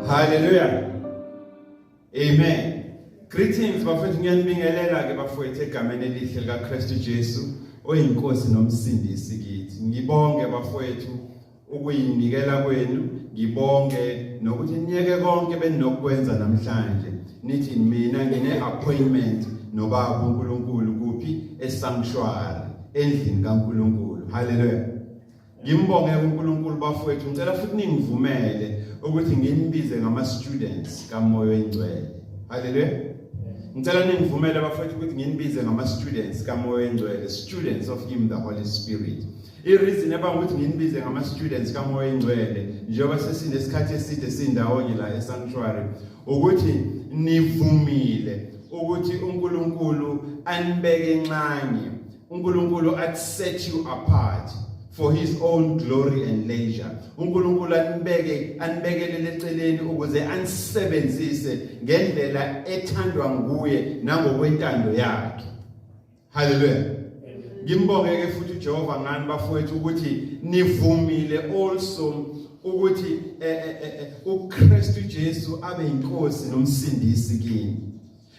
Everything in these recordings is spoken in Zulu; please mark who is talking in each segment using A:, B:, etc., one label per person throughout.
A: Hallelujah. Amen. Greetings bafethu ngiyanibingelela ke bafethu egameni elihle likaKristu Jesu oyinkosi nomsindisi kithi. Ngibonge bafethu ukuyinikela kwenu ngibonge nokuthi niyeke konke beninokwenza namhlanje nithi mina ngine appointment nobaba uNkulunkulu kuphi esanctuary endlini kaNkulunkulu haleluya ngimbonge uNkulunkulu bafowethu ngicela futhi ningivumele ukuthi nginibize ngama students kamoya oyingcwele haleluya ngicela ningivumele bafowethu ukuthi nginibize ngama students kamoya oyingcwele students of him the holy spirit I-reason ebanga ukuthi nginibize ngama-students kamoya engcwele njengoba sesinesikhathi eside sindawonye la e-sanctuary ukuthi nivumile ukuthi uNkulunkulu anibeke nxanye uNkulunkulu at set you apart for his own glory and leisure uNkulunkulu anibeke anibekelele eceleni ukuze anisebenzise ngendlela ethandwa nguye nangokwentando yakhe haleluya ngimbonge ke futhi uJehova ngani bafowethu ukuthi nivumile also ukuthi eh, eh, eh, uKristu Jesu abe inkosi nomsindisi kini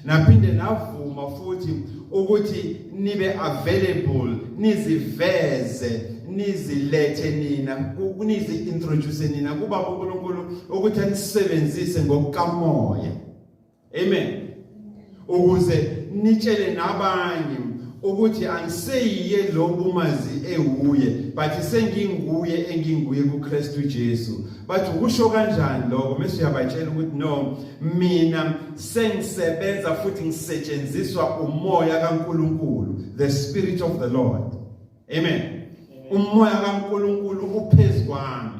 A: naphinde navuma futhi ukuthi nibe available niziveze nizilethe nina nizi introduce nina kuba uNkulunkulu ukuthi anisebenzise ngokukamoya amen ukuze nitshele nabanye ukuthi angiseyiye lo bumazi ewuye but senginguye enginguye kuKristu Jesu bathi ukusho kanjani lokho mase uyabatshela ukuthi no mina sengisebenza futhi ngisetshenziswa umoya kaNkuluNkulu the spirit of the lord amen umoya kaNkuluNkulu uphezu kwami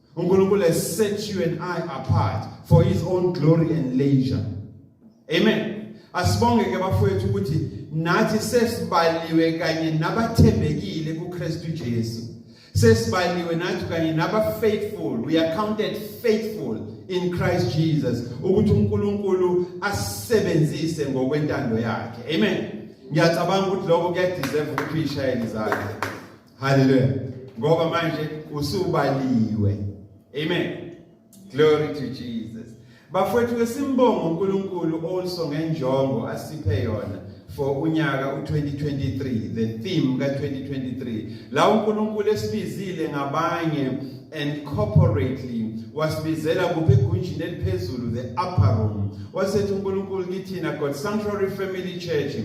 A: uNkulunkulu has set you and I apart for his own glory and leisure amen asibonge ke bafowethu ukuthi nathi sesibaliwe kanye nabathembekile kuKristu Jesu sesibaliwe nathi kanye naba faithful we are counted faithful in Christ Jesus ukuthi uNkulunkulu asebenzise ngokwentando yakhe amen ngiyacabanga ukuthi lokho kuyadeserve ukuthi ishayele izakhe Hallelujah. Ngoba manje usubaliwe. Amen. Glory to Jesus. Bafowethu ke simbonga uNkulunkulu also ngenjongo asiphe yona for unyaka u2023 the theme ka2023 la uNkulunkulu esibizile ngabanye and corporately wasibizela kuphi egunjini eliphezulu the upper room wasethi uNkulunkulu kithina God Sanctuary Family Church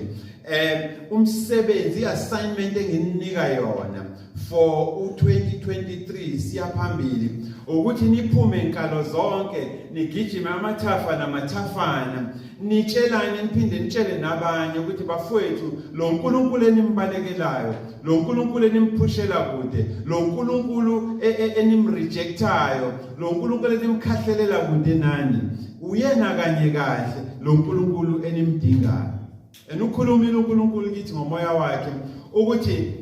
A: eh umsebenzi assignment engininika yona for u2023 siyaphambili ukuthi niphume inkalo zonke nigijime amathafa namathafana nitshelane niphinde nitshele nabanye ukuthi bafowethu lo nkulunkulu enimbalekelayo lo nkulunkulu enimphushela kude lo nkulunkulu e, e, enimrejectayo lo nkulunkulu enimkhahlelela kude nani uyena kanye kahle lo nkulunkulu enimdingayo And ukhulumile uNkulunkulu kithi ngomoya wakhe ukuthi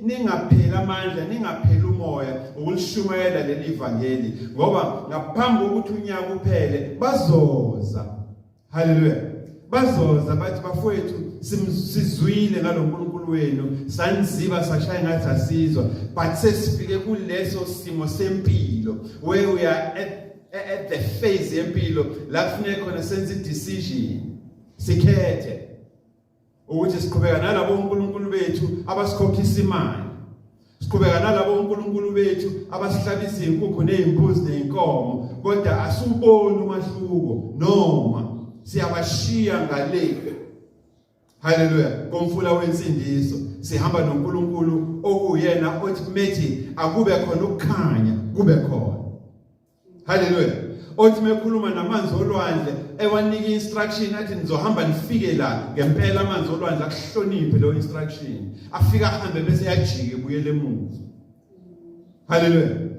A: ningapheli amandla ningapheli umoya ukulishumayela leli vangeli ngoba ngaphambi kokuthi unyaka uphele bazoza haleluya bazoza bathi bafowethu sizwile ngaloNkulunkulu wenu sanziba sashaya ngathi asizwa but sesifike kuleso simo sempilo where we are at, at the phase yempilo la kufuneka khona senze decision sikhethe ukuthi siqhubeka nalabo uNkulunkulu bethu abasikhokhisa imali siqhubeka nalabo uNkulunkulu bethu abasihlabisa inkukhu nezimbuzi nezinkomo kodwa asuboni umahluko noma siyabashiya ngale haleluya komfula wensindiso sihamba noNkulunkulu okuyena othi methi akube khona ukukhanya kube khona Haleluya. Othi mekhuluma namanzi olwandle ewanika instruction athi nizohamba nifike la ngempela amanzi olwandle akuhloniphe lo instruction. Afika ahambe bese yajike buyele emuva. Haleluya.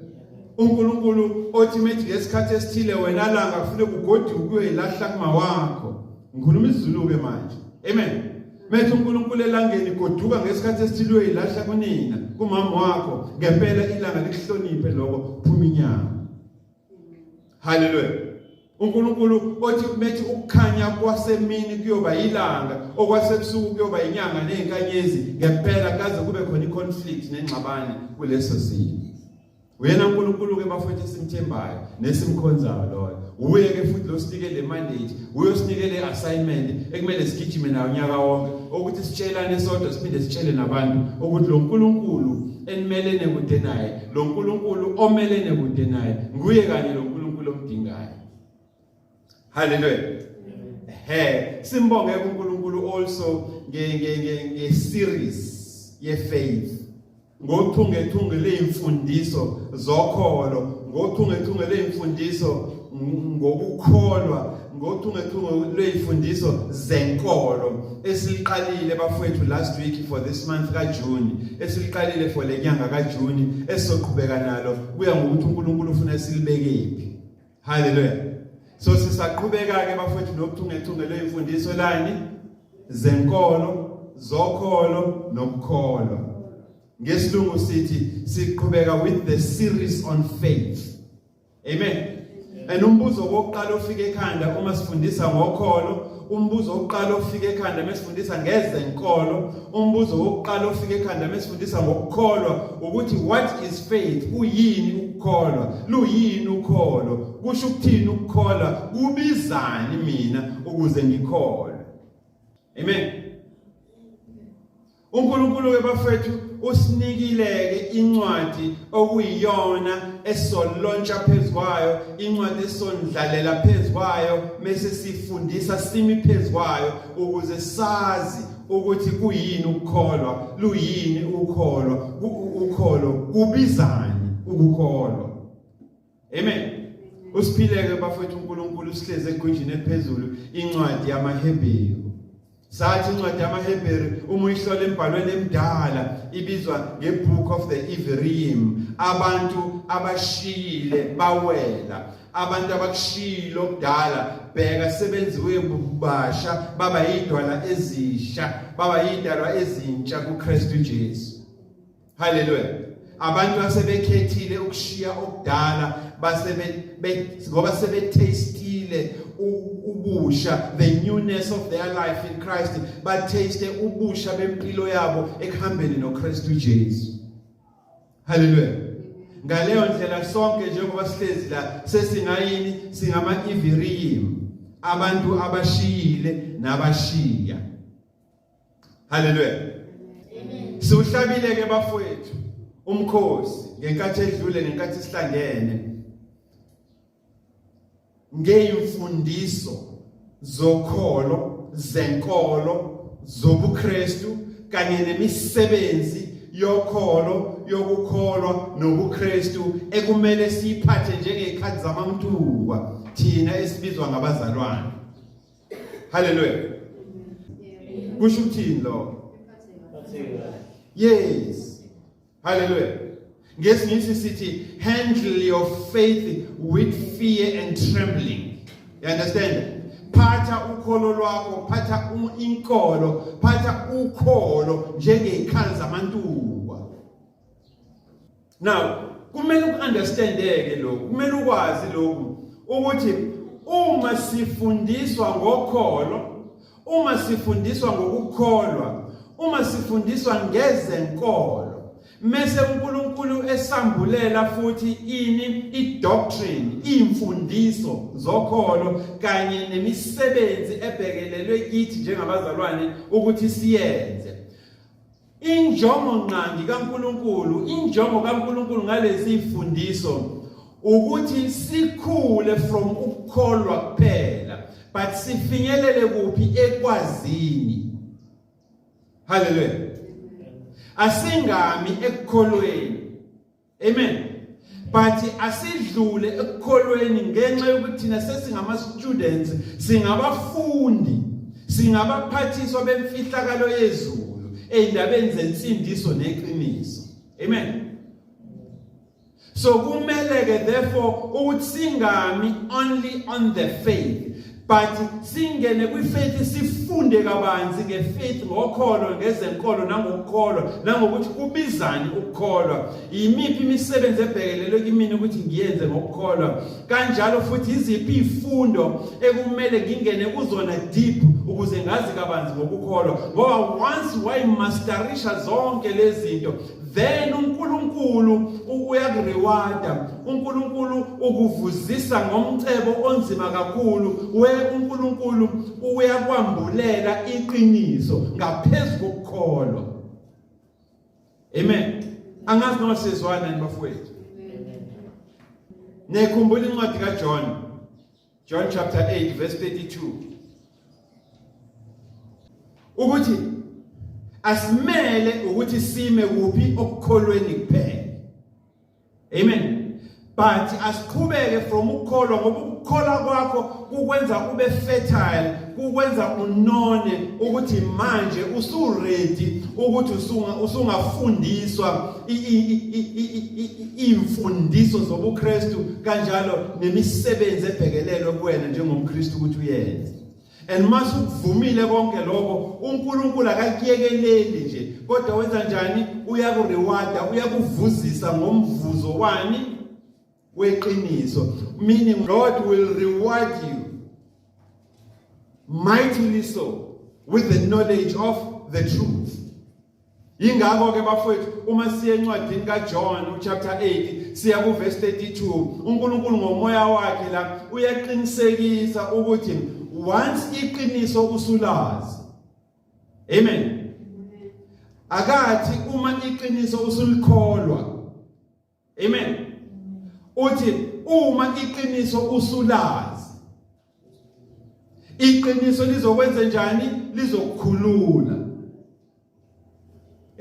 A: uNkulunkulu othi methi ngesikhathi esithile wena langa kufanele kugoduke uyilahla kuma wakho. Ngikhuluma isiZulu ke manje. Amen. Methi uNkulunkulu elangeni goduka ngesikhathi esithilwe ilahla kunina kumama wakho ngempela ilanga likuhloniphe lokho phuma inyama Hallelujah uNkulunkulu othi methi ukukhanya kwasemini kuyoba ilanga okwasebusuku kuyoba inyanga nezinkanyezi ngempela kaze kube khona iconflict nengxabano kuleso simo Uyena uNkulunkulu ke bafowethu esimthembayo nesimkhonzayo loyo. Uye ke futhi lo sinike le mandate, uyosinike le assignment ekumele sigijime nayo unyaka wonke ukuthi sitshelane sodwa siphinde sitshele nabantu ukuthi lo Nkulunkulu enimelene kude naye, lo Nkulunkulu omelene kude naye, nguye kanye lo Nkulunkulu omdingayo. Hallelujah. He simbonge uNkulunkulu also nge nge nge, nge series ye faith. Ngothungethunge leimfundiso zokholo, ngothungethunge leimfundiso ngokukholwa ngothungethunge lwezifundiso zenkolo esiliqalile bafowethu last week for this month kaJune esiliqalile for lenyanga kaJune esizoqhubeka nalo kuya ngokuthi uNkulunkulu ufuna silibekephi Haleluya. So sisaqhubeka ke bafowethu nokuthungethunge lwemfundiso lani zenkolo, zokholo nokukholwa. Ngesilungu sithi siqhubeka with the series on faith. Amen. And umbuzo wokuqala ofika ekhanda uma sifundisa ngokholo umbuzo wokuqala ofika ekhanda mesifundisa ngezenkolo umbuzo wokuqala ofika ekhanda mesifundisa ngokukholwa ukuthi what is faith uyini ukukholwa luyini ukholo kusho ukuthini ukukholwa kubizani mina ukuze ngikholwe amen uNkulunkulu-ke bafethu usinikile-ke incwadi okuyiyona esolontsha phezu kwayo incwadi esondlalela phezu kwayo mese sifundisa simi phezu kwayo ukuze sazi ukuthi kuyini ukukholwa luyini ukukholwa ukholo kubizani ukukholwa amen usiphileke bafethu uNkulunkulu usihleze egunjini eliphezulu incwadi yamaHebheru sathi incwadi yamaHebheru uma uyihlola embhalweni emdala ibizwa ngeBook of the Everim abantu abashiyile bawela abantu abakushilo kudala bheka sebenziwe bubasha baba yidwala ezisha baba yidalwa ezintsha kuKristu Jesu haleluya abantu asebekhethile ukushiya okudala base ngoba sebethastile ubusha the newness of their life in Christ bathaste ubusha bempilo yabo ekuhambeni noKristu Jesu haleluya ngaleyo ndlela sonke njengoba sihlezi la sesingayini singama iviriyimu abantu abashiyile nabashiya Haleluya. Amen. Siwuhlabile ke bafowethu umkhosi ngenkathi edlule nenkathi sihlangene ngeyimfundiso zokholo zenkolo zobuKristu kanye nemisebenzi yokholo yokukholwa nobuKristu ekumele siyiphathe njengezikhathi zamamtungwa thina esibizwa ngabazalwane Hallelujah. Kusho ukuthini lokho? Yes. Hallelujah. Ngesinye isikhathi sithi handle your faith with fear and trembling. You understand? phatha ukholo lwakho phatha inkolo phatha ukholo njengey'khali zamantuba now kumele uunderstandeke lokhu kumele ukwazi lokhu ukuthi uma sifundiswa ngokholo uma sifundiswa ngokukholwa uma sifundiswa ngezenkolo mese uNkulunkulu esambulela futhi ini idoctrine imfundiso zokholo kanye nemisebenzi ebhekelelwe kithi njengabazalwane ukuthi siyenze Injongo nqangi kaNkuluNkulu, injongo kaNkuluNkulu ngalezi ifundiso ukuthi sikhule from ukukholwa kuphela but sifinyelele kuphi ekwazini. Hallelujah. Asingami ekukholweni amen but asidlule ekukholweni ngenxa yokuthi thina sesingama students singabafundi singabaphathiswa bemfihlakalo yezulu endabeni zensindiso neqiniso amen so kumele ke therefore ukuthi singami only on the faith but singene kwifaith sifunde kabanzi ngefaith ngokholo ngezenkolo nangokukholwa nangokuthi kubizani ukukholwa yimiphi imisebenzi ebhekelelwe kimina ukuthi ngiyenze ngokukholwa kanjalo futhi iziphi izifundo ekumele ngingene kuzona deep ukuze ngazi kabanzi ngokukholwa ngoba once wayimasterisha zonke lezi zinto then uNkulunkulu uyakurewada uNkulunkulu ukuvuzisa ngomcebo onzima kakhulu we uNkulunkulu uyakwambulela iqiniso ngaphezulu kokukholwa amen angazi noma sizwana nibafowethu nekhumbula incwadi kaJohn John chapter 8 verse 32 ukuthi asimele ukuthi sime kuphi okukholweni kuphela amen but asiqhubeke from ukukholwa ngoba ukukholwa kwakho kukwenza ube fertile kukwenza unone ukuthi manje usuready ukuthi usungafundiswa imfundiso zobuKristu kanjalo nemisebenzi ebhekelelwe kuwena njengomKristu ukuthi uyenze and mase ukuvumile konke lokho uNkulunkulu akakuyekeleli nje kodwa wenza njani uyakurewarda uyakuvuzisa ngomvuzo wani weqiniso meaning God will reward you mightily so with the knowledge of the truth ingakho ke bafowethu uma siye encwadini kaJohn chapter 8 siya ku verse 32 uNkulunkulu ngomoya wakhe la uyaqinisekisa ukuthi once iqiniso usulazi amen akathi uma iqiniso usulikholwa amen uthi uma iqiniso usulazi iqiniso lizokwenza njani lizokukhulula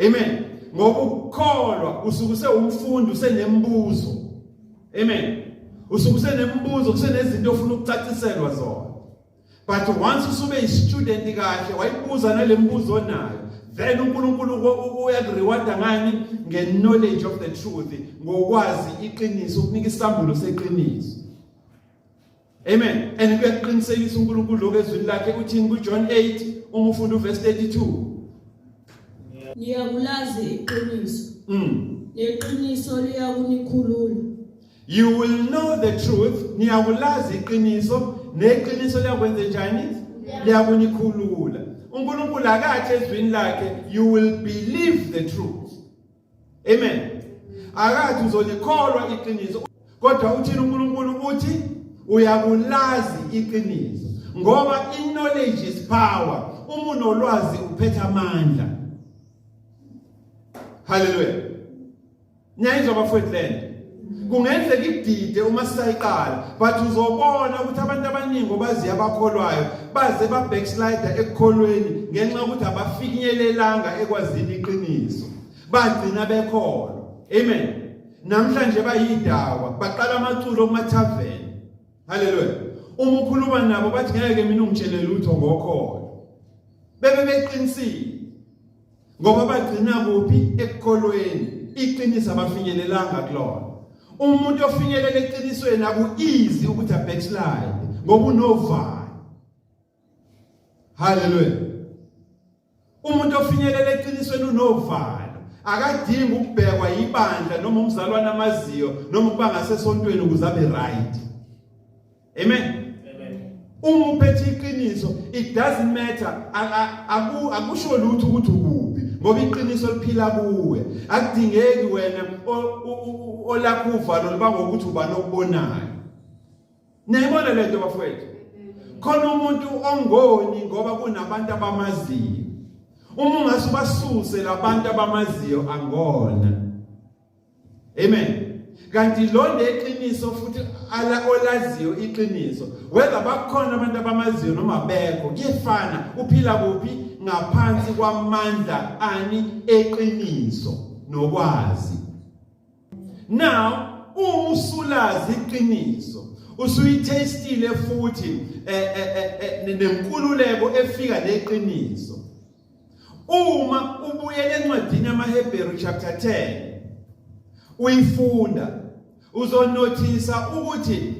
A: amen ngoba ukukholwa usukuse umfundi usenembuzo amen usukuse nembuzo kusenezinto ofuna ukucaciselwa zona but once usube istudent kahle wayibuza nalembuzo onayo then uNkulunkulu uyakurewarda ngani ngeknowledge of the truth ngokwazi iqiniso ukunika isambulo seqiniso amen and kuyakuqinisekisa uNkulunkulu lokho ezwini lakhe uthini kuJohn 8 uma ufunda uverse 32
B: ngiyakulazi iqiniso mm neqiniso liyakunikhulula You
A: will know the truth, niyakulazi iqiniso, neqiniso liyakwenza njani? Liyakunikhulula. uNkulunkulu akathi ezwini lakhe you will believe the truth amen akathi uzolikholwa iqiniso kodwa uthini uNkulunkulu uthi uyakulazi iqiniso ngoba i-knowledge is power uma unolwazi uphetha amandla haleluya niyayizwa bafowethu lento kungenzeka idide uma sisayiqala but uzobona ukuthi abantu abaningi obazi abakholwayo baze ba backslider ekukholweni ngenxa ukuthi abafinyelelanga ekwazini iqiniso bagcina bekhona amen namhlanje bayidakwa baqala amaculo kuma tavern haleluya uma ukhuluma nabo bathi ngeke mina ungitshele lutho ngokhona bebe beqinisile ngoba bagcina kuphi ekukholweni iqiniso abafinyelelanga kulona umuntu ofinyelela eqinisweni akuizi ukuthi abackslide ngoba unovalo haleluya umuntu ofinyelela eqinisweni unovalo akadingi ukubhekwa ibandla noma umzalwane amaziyo noma ukuba ngasesontweni ukuze abe right amen uma uphethe iqiniso it doesn't matter akusho lutho ukuthi ukuphi ngoba iqiniso liphila kuwe akudingeki wena olakho uvalo liba ngokuthi ubani okubonayo niyayibona le nto bafowethu khona umuntu ongoni ngoba kunabantu abamaziyo uma ungase ubasuse labantu abamaziyo angona amen kanti londe iqiniso futhi ala olaziyo iqiniso whether bakhona abantu abamaziyo noma bekho kuyefana uphila kuphi ngaphansi kwamandla ani eqiniso nokwazi now uma usulazi iqiniso usuyithestile futhi eh, eh, eh, nenkululeko efika neqiniso uma ubuyela encwadini yamaHebheru chapter 10 uyifunda uzonothisa ukuthi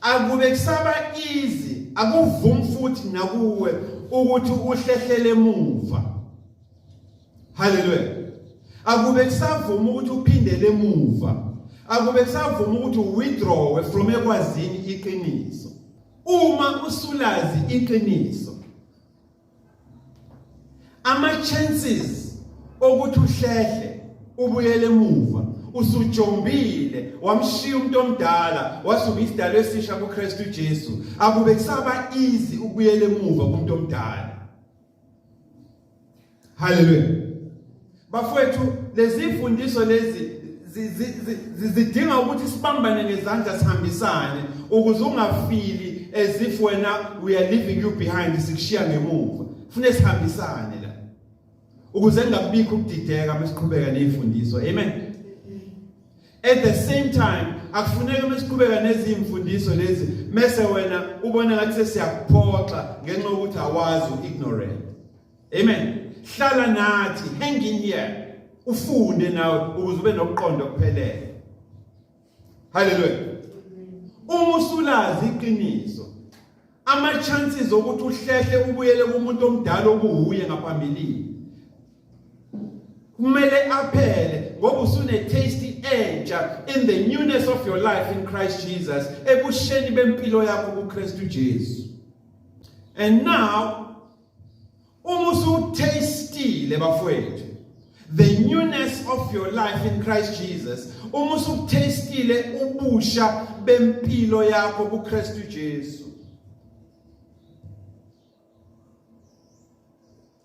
A: akube kusaba easy akuvumi futhi nakuwe ukuthi uhlehlele emuva haleluya akube kusavuma ukuthi uphindele emuva akube kusavuma ukuthi withdraw from ekwazini iqiniso uma usulazi iqiniso ama chances okuthi uhlehle ubuyele emuva usujombile wamshiya umuntu omdala wasuba isidalo esisha kuKristu Jesu akube kusaba easy ukuyele emuva kumuntu omdala haleluya bafowethu lezifundiso lezi zidinga ukuthi sibambane ngezandla sihambisane ukuze ungafili as if wena we are leaving you behind sikushiya ngemuva fune sihambisane la ukuze ngingakubikho ukudideka mesiqhubeka nezifundiso amen at the same time akufuneki uma siqhubeka nezimfundiso lezi mese wena ubona ngathi sesiyakuphoxa ngenxa yokuthi awazi ignorant Amen. Hlala nathi, hang in here. Ufunde nawe ukuze ube nokuqonda okuphelele. Hallelujah. Uma usulazi iqiniso, ama chances okuthi uhlehle ubuyele kumuntu omdala okuhuye ngaphambilini. Kumele aphele ngoba usune taste entsha in the newness of your life in Christ Jesus ebusheni bempilo yakho kuKristu Jesu. And now Uma usutastile bafowethu the newness of your life in Christ Jesus uma usutastile ubusha bempilo yakho kuKristu Jesu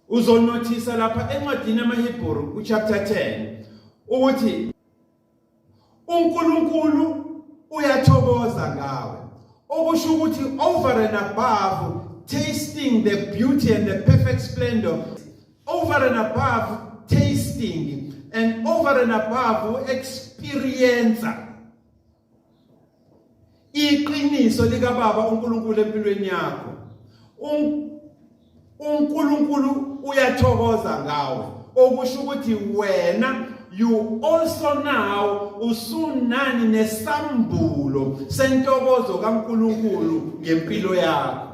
A: uzonothisa lapha encwadini yamaHebheru kuchapter 10 ukuthi uNkulunkulu uyathokoza ngawe okusho ukuthi over and above tasting the beauty and the perfect splendor over and above tasting and over and above experience iqiniso lika baba uNkulunkulu empilweni yakho uNkulunkulu uyathokoza ngawe okusho ukuthi wena you also now usunani nesambulo sentokozo kaNkuluNkulu ngempilo yakho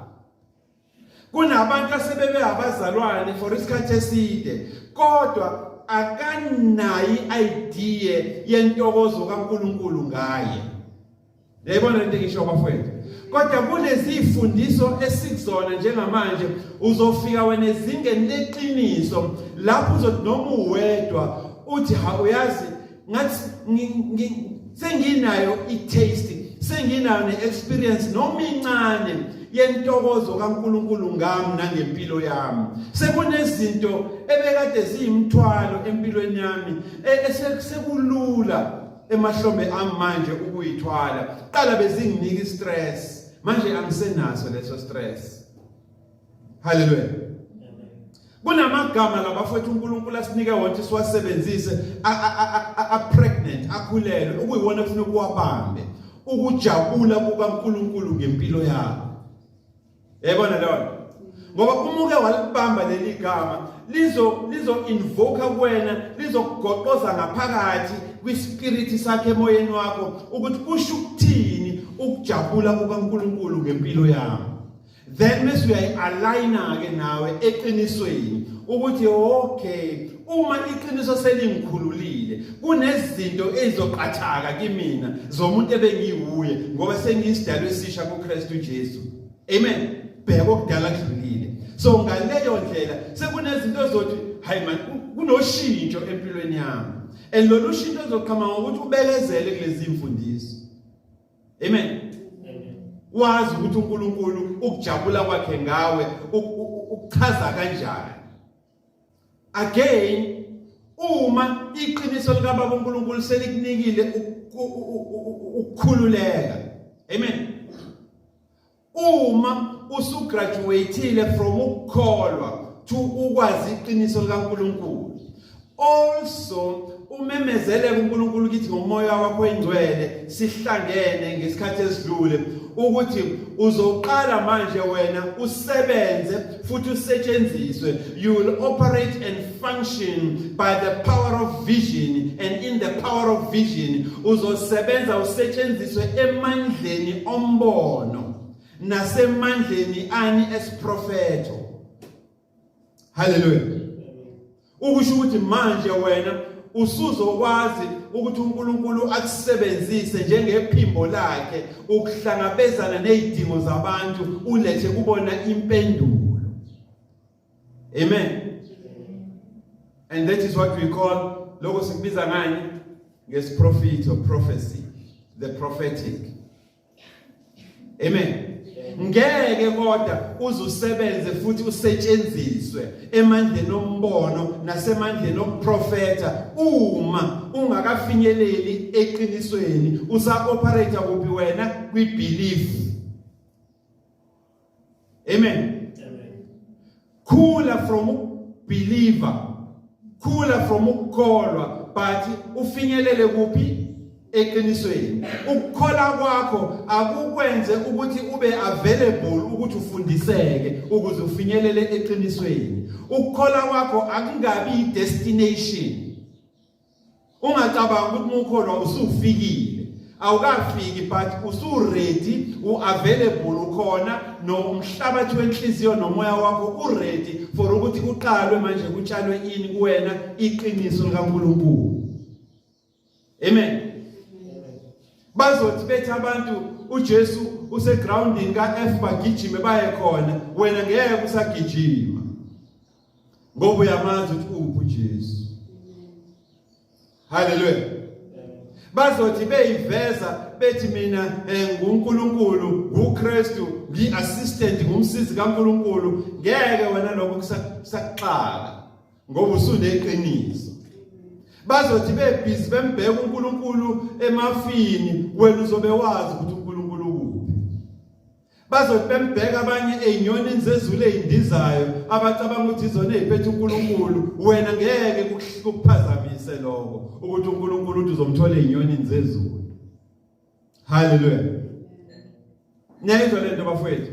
A: kunabantu asebebe abazalwane for isikhathi eside kodwa akanayi idea yentokozo kaNkuluNkulu ngaye yayibona into engisho bafowethu kodwa kunezifundiso esikuzona njengamanje uzofika wena ezingeni leqiniso lapho uzothi noma uwedwa uthi ha uyazi ngathi senginayo i-taste senginayo ne-experience noma incane yentokozo kaNkuluNkulu ngami nangempilo yami sekunezinto ebekade ziyimthwalo empilweni yami e-, esekulula emahlombe ami manje ukuyithwala qala bezinginika i-stress manje angisenaso leso stress haleluya kunamagama labafowethu uNkulunkulu asinike wona siwasebenzise a pregnant akhulelwe ukuyiwona kufanele kuwabambe ukujabula kukaNkulunkulu ngempilo yakho yayibona lona ngoba uma uke walibamba leli gama lizo lizo invoke kuwena lizokugoqoza ngaphakathi kwispirit sakhe emoyeni wakho ukuthi kusho ukuthini ukujabula kukaNkuluNkulu ngempilo yami then bese uyayi-aligna ke nawe eqinisweni ukuthi okay uma iqiniso selingikhululile kunezinto ezizoqathaka kimina zomuntu ebengiwuye ngoba sengiyisidalo esisha kuKristu Jesu amen bheka okudala kudlulile so ngaleyo ndlela sekunezinto zothi hayi man kunoshintsho empilweni yami and lolu shintsho uzoqhama ngokuthi ubekezele kulezi mfundiso amen wazi ukuthi uNkulunkulu ukujabula kwakhe ngawe ukuchaza kanjani again uma iqiniso lika baba uNkulunkulu selikunikile ukukhululeka amen uma usugraduatile from ukukholwa to ukwazi iqiniso likaNkulunkulu also umemezele kuNkulunkulu kithi ngomoya wakho oyingcwele sihlangene ngesikhathi esidlule ukuthi uzoqala manje wena usebenze futhi usetshenziswe you will operate and function by the power of vision and in the power of vision uzosebenza usetshenziswe emandleni ombono nasemandleni ani esiprofeto haleluya ukusho ukuthi manje wena usuzokwazi ukuthi uNkulunkulu akusebenzise njengephimbo lakhe ukuhlangabezana nezidingo zabantu ulethe kubona impendulo amen and that is what we call lokho sikubiza ngani ngesiprofito prophecy the prophetic Amen. Ngeke kodwa uzusebenze futhi usetshenziswe emandleni ombono nasemandleni okuprofeta uma ungakafinyeleli eqinisweni usa operate kuphi wena kwi belief Amen. Amen. Khula from believer. Khula from ukukholwa but ufinyelele kuphi eqinisweni. Ukukhola kwakho akukwenze ukuthi ube available ukuthi ufundiseke ukuze ufinyelele eqinisweni. Ukukhola kwakho akungabi destination. ungacabanga ukuthi mukholwa usufikile awukafiki but usuready uavailable ukhona nomhlabathi wenhliziyo nomoya wakho uready for ukuthi kuqalwe manje kutshalwe ini kuwena iqiniso likaNkuluNkulu amen bazothi bethi abantu uJesu usegroundini kaF bagijime baye khona wena ngeke usagijima ngoba uyamazi ukuthi uphi uJesu haleluya bazothi beyiveza bethi mina eh, nguNkulunkulu nguKristu ngiassistant ngumsizi kaNkulunkulu ngeke wena lokho kusaxaka ngoba usuneqiniso bazothi bebhizi bembheka uNkulunkulu emafini wena uzobe wazi ukuthi bazothi bembheka abanye ezinyonini zezulu ezindizayo abacabanga ukuthi izona eziphethe uNkulunkulu wena ngeke ukuphazamise lokho ukuthi uNkulunkulu uthi uzomthola ezinyonini zezulu haleluya niyayizwa lento bafowethu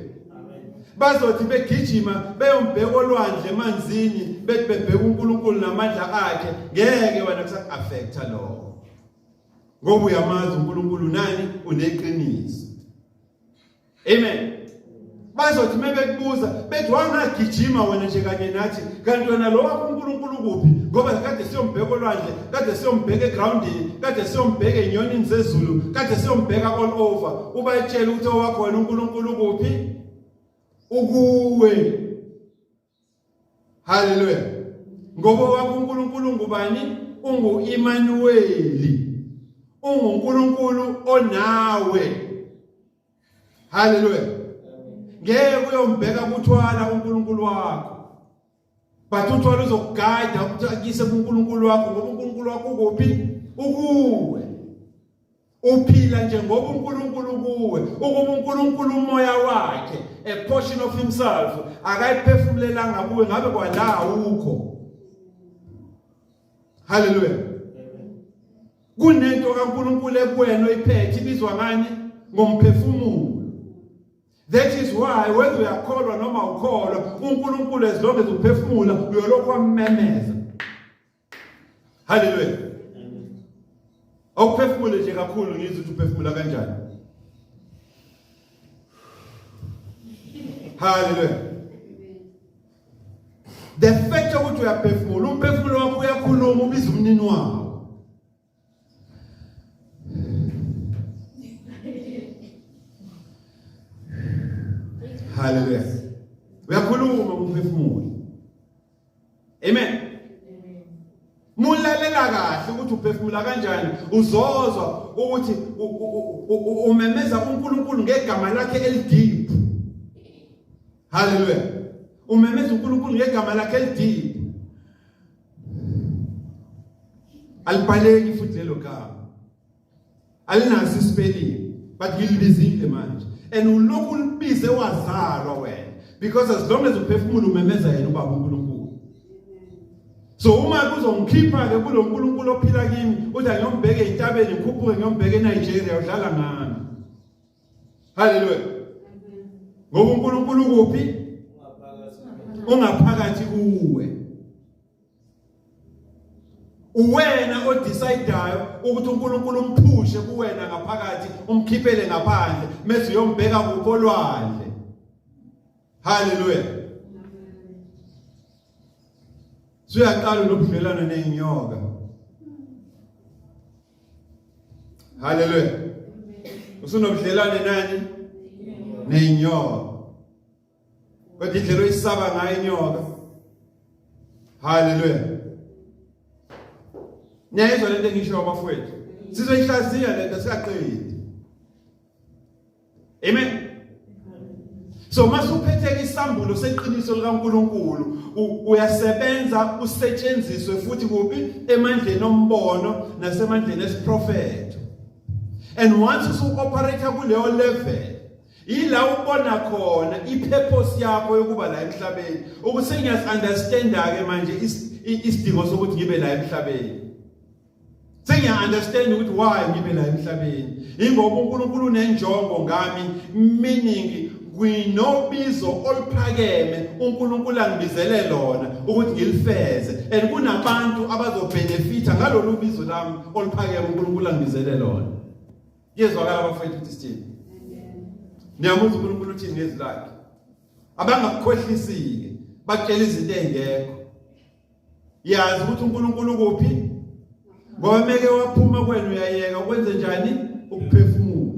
A: bazothi begijima beyombheka olwandle emanzini bethi bebheka uNkulunkulu namandla akhe ngeke wena kusakuaffecta lokho ngoba uyamazi uNkulunkulu nani uneqiniso Amen. Bazothi mebekubuza bethi wangagijima wena nje kanye nathi kanti wena lo wakho uNkulunkulu kuphi ngoba kade siyombheka olwandle kade siyombheka egroundini kade siyombheka enyonini zezulu kade siyombheka all over ubayitshela ukuthi owakho wena uNkulunkulu kuphi ukuwe Haleluya. Ngoba wakho uNkulunkulu ngubani? Ungu Immanueli. UnguNkulunkulu onawe. Haleluya. Ngeke uyombheka kuthwala uNkulunkulu wakho. But uthwala uzokugada ukuthi akise kuNkulunkulu wakho ngoba uNkulunkulu wakho ukuphi? Ukuwe. uphila nje ngoba uNkulunkulu kuwe ukuba uNkulunkulu umoya wakhe a portion of himself akayiphefumulelanga kuwe ngabe kwala ukho haleluya kunento kaNkulunkulu ekuwena oyiphethe ibizwa ngani ngomphefumulo That is why whether uyakholwa noma ukholwa uNkulunkulu as long as uphefumula uyolokhu ammemeza Hallelujah. Awuphefumule nje kakhulu ngizwe ukuthi uphefumula kanjani. Hallelujah. The fact ukuthi uyaphefumula, umphefumulo wakho uyakhuluma ubiza umnini wakho. Haleluya. Uyakhuluma umphefumulo. Amen. Mulalela kahle ukuthi uphefumula kanjani uzozwa ukuthi umemeza uNkulunkulu ngegama lakhe elideep. Haleluya. Umemeza uNkulunkulu ngegama lakhe elideep. alibhaleki futhi lelo gama alinaso isipelling but ngilibizile manje and ulokhu ulibize wazalwa wena because as long as uphefumula umemeza yena ubaba uNkulunkulu so uma kuzongikhipha ke kulo uNkulunkulu ophila kimi uthi angiyombheke intabeni ngikhuphuke ngiyombheke eNigeria udlala ngami Haleluya. Ngoba uNkulunkulu kuphi? Ungaphakathi kuwe. Uwena odecideayo ukuthi uNkulunkulu umphushe kuwena ngaphakathi, umkhiphele ngaphandle, mase uyombheka kupho lwandle. Hallelujah. Suyaqala nobudlelwane nezinyoka. Hallelujah. Usunobudlelwane nani? Nezinyoka. Kodwa indlela oyisaba ngayo inyoka. Hallelujah. Niyayizwa lento engisho abafowethu. Sizoyihlaziya lento siyaqedi. Amen. So masuphethe isambulo seqiniso likaNkuluNkulu uyasebenza usetshenziswe futhi kuphi emandleni ombono nasemandleni esiprofeto. And once usu operate kuleyo level ila ubona khona ipurpose yakho yokuba la emhlabeni ukuthi ngiyasunderstanda ke manje isidingo sokuthi ngibe la emhlabeni sengiya understand ukuthi why ngibe la emhlabeni ingoba uNkulunkulu unenjongo ngami meaning kwinobizo oluphakeme uNkulunkulu angibizele lona ukuthi ngilifeze and kunabantu abazobenefita ngalolu bizo lami oluphakeme uNkulunkulu angibizele lona yezwakala abafowethu ukuthi sithini niyamuzwa uNkulunkulu uthini ngezilakhe abangakukhohlisile bakutshela izinto ezingekho yazi ukuthi uNkulunkulu kuphi ngoba meke waphuma kwena uyayeka ukwenze njani ukuphefumula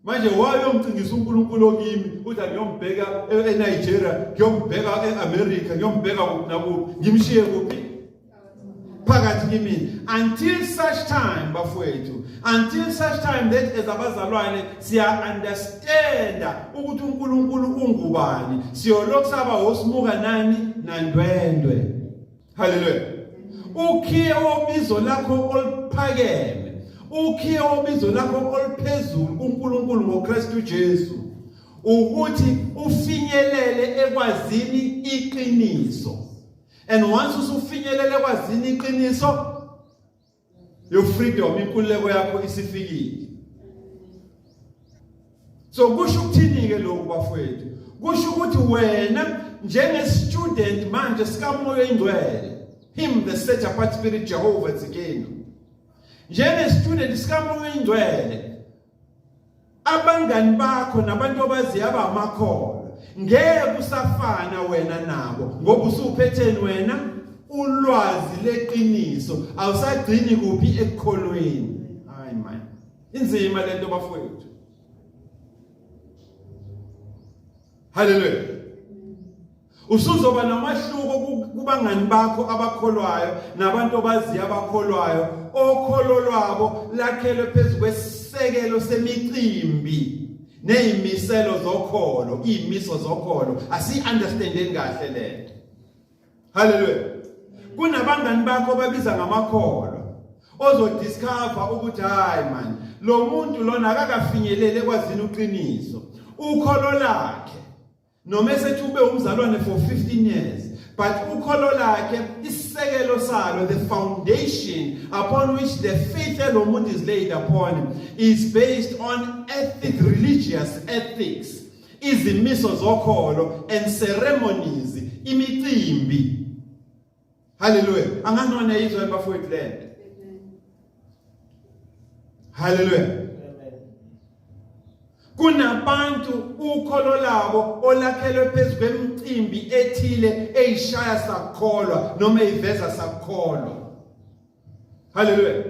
A: manje wayomcingisa uNkulunkulu okimi uthi angiyombheka eNigeria ngiyombheka eAmerica ngiyombheka kuphi nakuphi ngimshiye kuphi phakathi kimina until such time bafowethu until such time that as abazalwane siya understand ukuthi uNkulunkulu ungubani siyolokhu saba hosimuka nani nandwendwe haleluya ukhiye wobizo lakho oluphakeme ukhiye wobizo lakho oluphezulu kuNkulunkulu ngoKristu Jesu ukuthi ufinyelele ekwazini iqiniso and once usufinyelele ekwazini iqiniso Your freedom inkululeko yakho isifikile. So kusho ukuthini ke lokhu bafowethu? Kusho ukuthi wena njenge student manje sikamoya ingcwele him the set apart spirit Jehovah tsikeni. Njenge student sikamoya ingcwele abangani bakho nabantu obaziyo abamakholwa ngeke usafana wena nabo ngoba usuphetheni wena ulwazi leqiniso awusagcini kuphi ekukholweni hayi man inzima lento bafowethu haleluya Usuzoba nomahluko kubangani bakho abakholwayo nabantu obaziyo abakholwayo okholo lwabo lakhelwe phezu kwesisekelo semicimbi nezimiselo zokholo izimiso zokholo asi understanding kahle lento haleluya kunabangani bakho babiza ngamakholwa ozodiscover ukuthi hayi man lo muntu lona akakafinyelele kwazini uqiniso ukholo lakhe noma esethi ube umzalwane for 15 years but ukholo lakhe isisekelo salo the foundation upon which the faith elomuntu is laid upon is based on ethic religious ethics izimiso zokholo and ceremonies imicimbi Haleluya. Angazi noma niyayizwa bafowethu le nto. Haleluya. Kunabantu ukholo labo olakhelwe phezu kwemicimbi ethile eyishaya sakholwa noma eyiveza sakholwa. Hallelujah.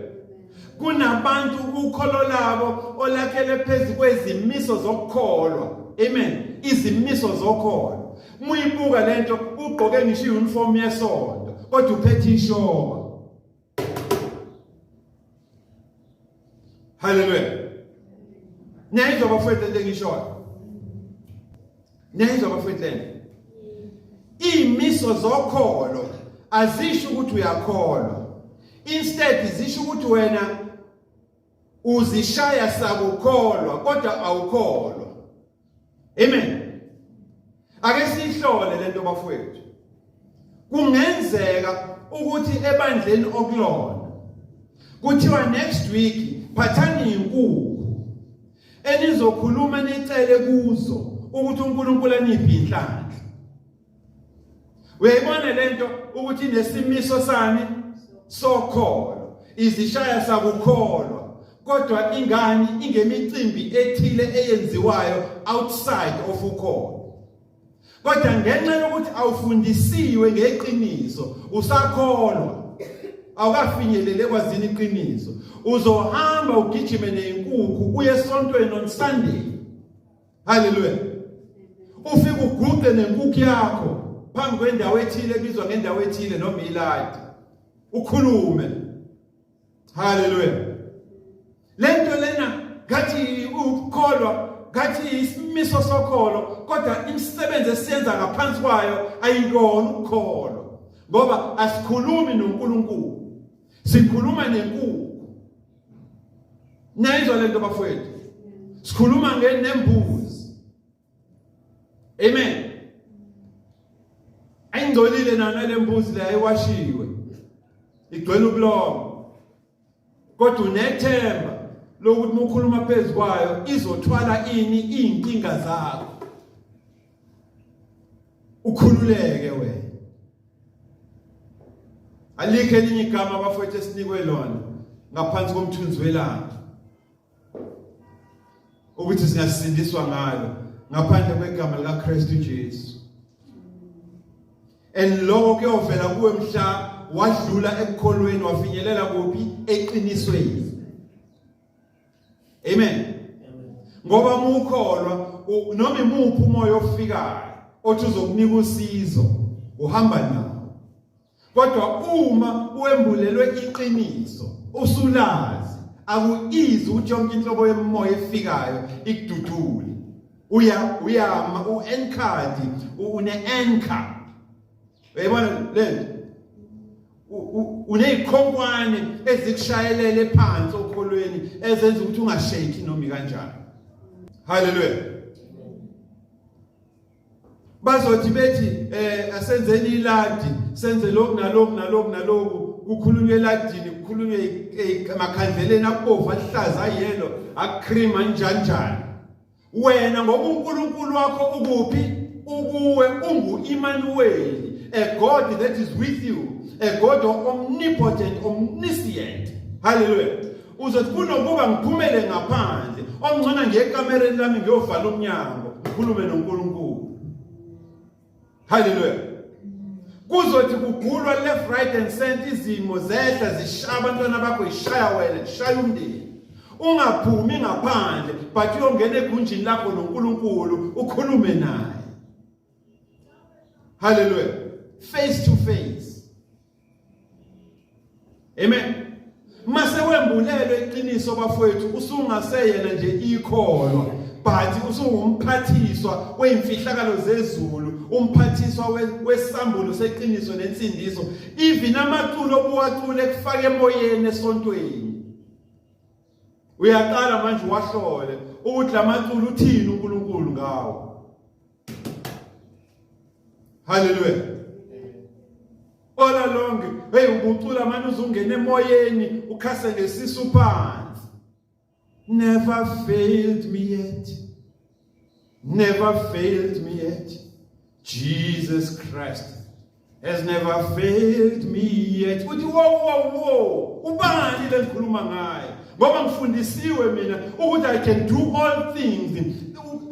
A: Kunabantu ukholo labo olakhele phezu kwezimiso zokukholwa. Amen. Izimiso zokholo. Muyibuka lento ugqoke ngisho iuniform yesonto kodwa uphethe ishoba. Hallelujah. Niyayizwa bafethu lento engishoyo. Niyayizwa bafethu lento. Imiso zokholo azisho ukuthi uyakholwa. Instead zisho ukuthi wena uzishaya sakukholwa kodwa awukholwa. Amen. Ake sihlole lento bafowethu. Kungenzeka ukuthi ebandleni okulona kuthiwa next week phathani inkukhu enizokhuluma nicele kuzo ukuthi uNkulunkulu aniphi inhlanhla uyayibona lento ukuthi nesimiso sami sokholo izishaya sakukholwa kodwa ingani ingemicimbi ethile eyenziwayo outside of ukholo kodwa ngenxa yokuthi awufundisiwe ngeqiniso usakholwa awukafinyelele kwazini iqiniso uzohamba ugijime nenkukhu uye esontweni on Sunday haleluya ufike uguqe nenkukhu yakho phambi kwendawo ethile ebizwa ngendawo ethile noma iladi ukhulume haleluya lento lena ngathi ukukholwa ngathi isimiso sokholo kodwa imisebenzi esiyenza ngaphansi kwayo ayikona ukukholwa ngoba asikhulumi noNkulunkulu sikhuluma nenkulu Niyayizwa le nto bafowethu? Sikhuluma ngenembuzi. Amen. Ayingcolile nana le mbuzi le ayiwashiwe. Igcwele ubulongo. Kodwa unethemba lokuthi mukhuluma phezulu kwayo izothwala ini izinkinga zakho. Ukhululeke wena. alikho elinye igama abafowethu esinikwe lona ngaphansi komthunzi welanga ukuthi singasindiswa ngalo ngaphandle kwegama likaKristu Jesu and lokho kuyovela kuwe mhla wadlula ekukholweni wafinyelela kuphi eqinisweni amen ngoba uma ukholwa noma imuphi umoya ofikayo othi uzokunika usizo uhamba nawo kodwa uma uembulelwe iqiniso usulazi akuyizi ukuthi yonke inhlobo yemoya efikayo ikududule uya uyama uenkadi une anchor Uyayibona lento? Unezikhonkwane ezikushayelele phansi okholweni ezenza ukuthi ungasheki noma kanjani. Hallelujah. Bazothi bethi eh asenzeni iladi senze lokhu nalokhu nalokhu nalokhu kukhulunywe eladini kukhulunywe emakhandleleni akubovu ahlaza ayelo akcream anjanjani wena ngokunkulunkulu wakho ukuphi ukuwe ungu-imanuweli a god that is with you a god omnipotent omniscient halleluya uzothi kunokuba ngiphumele ngaphandle omngcona ngekamereni lami ngiyovala umnyango ngikhulume nonkulunkulu Hallelujah. Kuzothi kugulwa left right and center izimo zehla zishaya abantwana bakho ishaya wena ishaya umndeni. Ungaphumi ngaphandle but uyongena egunjini lakho noNkulunkulu ukhulume naye. Hallelujah. Face to face. Amen. Mase wembulelwe iqiniso bafowethu usungaseyena nje ikholwa but usungumphathiswa weimfihlakalo zezulu umphathiswa wesambulo seqiniso nensindiso even amaculo obuwacule kufaka emoyeni esontweni uyaqala manje wahlole ukuthi lamaculo uthini uNkulunkulu ngawo Hallelujah. Ola lonke, hey ubucula manje uzungena emoyeni ukhase ngesisu phansi. Never failed me yet. Never failed me yet. Jesus Christ has never failed me yet uthi wo wo wo ubani lengikhuluma ngaye ngoba ngifundisiwe mina ukuthi i can do all things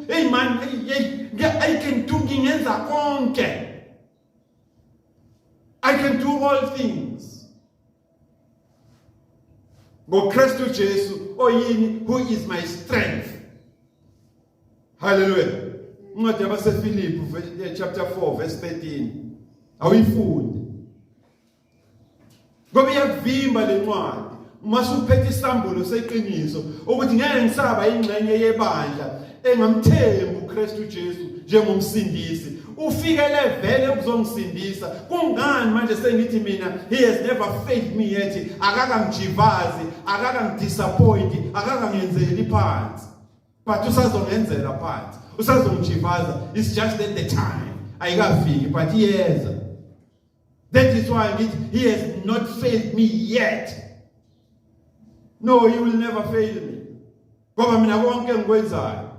A: hey man hey i can do ngingenza konke i can do all things ngoKristu Jesu oyini who is my strength haleluya incwadi yabaseFilipi eh, chapter 4 verse 13 awuyifundi ngoba iyakuvimba lencwadi uma suphethe isambulo seqiniso ukuthi ngeke ngisaba ingxenye yebandla engamthembi uKristu Jesu njengomsindisi ufikele vele ukuzongisindisa kungani manje sengithi mina he has never failed me yet akakangijivazi akakangidisappoint akakangenzeli phansi but usazongenzela phansi usazongijivaza it's just that the time ayikafiki but iyeza that is why ngithi he has not failed me yet no he will never fail me ngoba mina konke engikwenzayo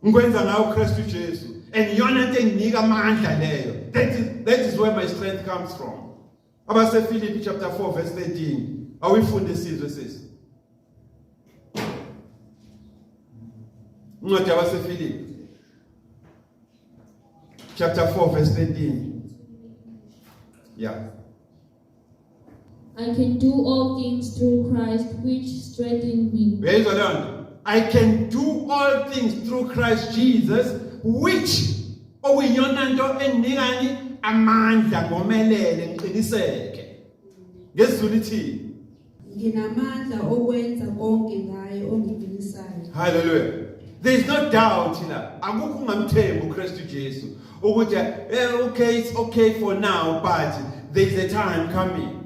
A: ngikwenza ngawo uKristu Jesu and iyona into enginika amandla leyo that is that is where my strength comes from abase Philippi chapter 4 verse 13 awifunde sizwe sisi incwadi yabase Philippi chapter 4 verse 13 yeah
C: I can do all things through Christ which strengthens me. Uyayizwa leyo nto?
A: I can do all things through Christ Jesus which okuyiyona nto endinikani amandla ngomelele ngiqiniseke. NgesiZulu ithini?
B: Nginamandla okwenza konke
A: ngaye ongidumisayo. Hallelujah. There is no doubt la akukho ungamthembi uKristu Jesu ukuthi eh okay it's okay for now but there is a time coming.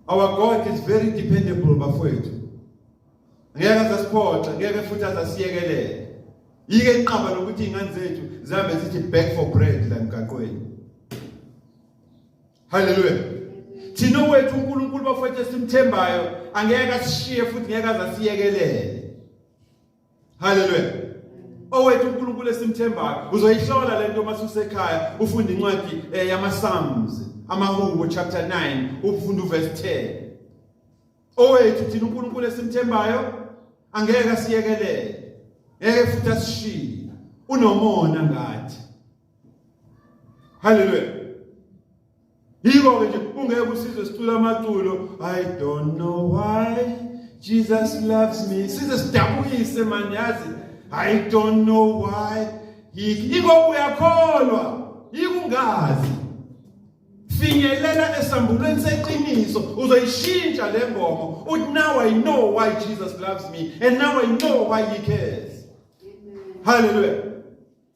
A: Our God is very dependable bafowethu. Ngeke asiphoxe, ngeke futhi asasiyekelele. Yike inqaba lokuthi ingane zethu zihambe zithi back for bread la mgaqweni. haleluya thina wethu uNkulunkulu bafowethu esimthembayo angeke asishiye futhi ngeke azasiyekelele haleluya owethu uNkulunkulu esimthembayo uzoyihlola lento uma susekhaya ufunda incwadi eh, yama Psalms amahubo chapter 9 ufunda uverse 10 owethu thina uNkulunkulu esimthembayo angeke asiyekelele ngeke futhi asishiye unomona ngathi haleluya yiko-ke nje ungeke usizwe sicula amaculo i don't know why jesus loves me size sidabukise mani yazi i don't know why yiko uyakholwa yikungazi finyelela esambulweni seqiniso uzoyishintsha le ngoma uthi now i know why jesus loves me and now i know why he cares haleluya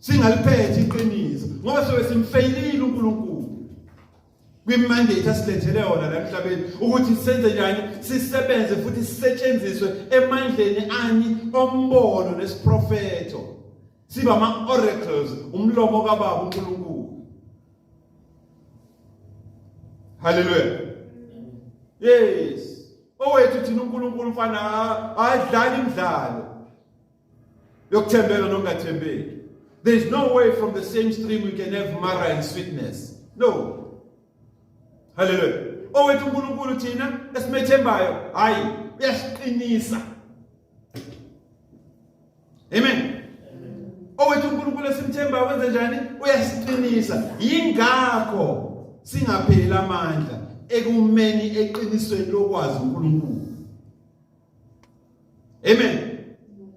A: singaliphethe iqiniso ngoba sobe simfeyilile uNkulunkulu kwimandate asilethele yona la emhlabeni ukuthi senze njani sisebenze futhi sisetshenziswe emandleni ani ombono nesiprofeto siba ama oracles umlomo kababa uNkulunkulu haleluya yes owethu thina uNkulunkulu mfana adlali imidlalo yokuthembeka nokungathembeki there is no way from the same stream you can have mara and sweetness no haleluya owethu uNkulunkulu thina esimethembayo hayi uyasiqinisa amen owethu uNkulunkulu esimthembayo wenze njani uyasiqinisa yingakho singapheli amandla ekumeni eqinisweni lokwazi uNkulunkulu amen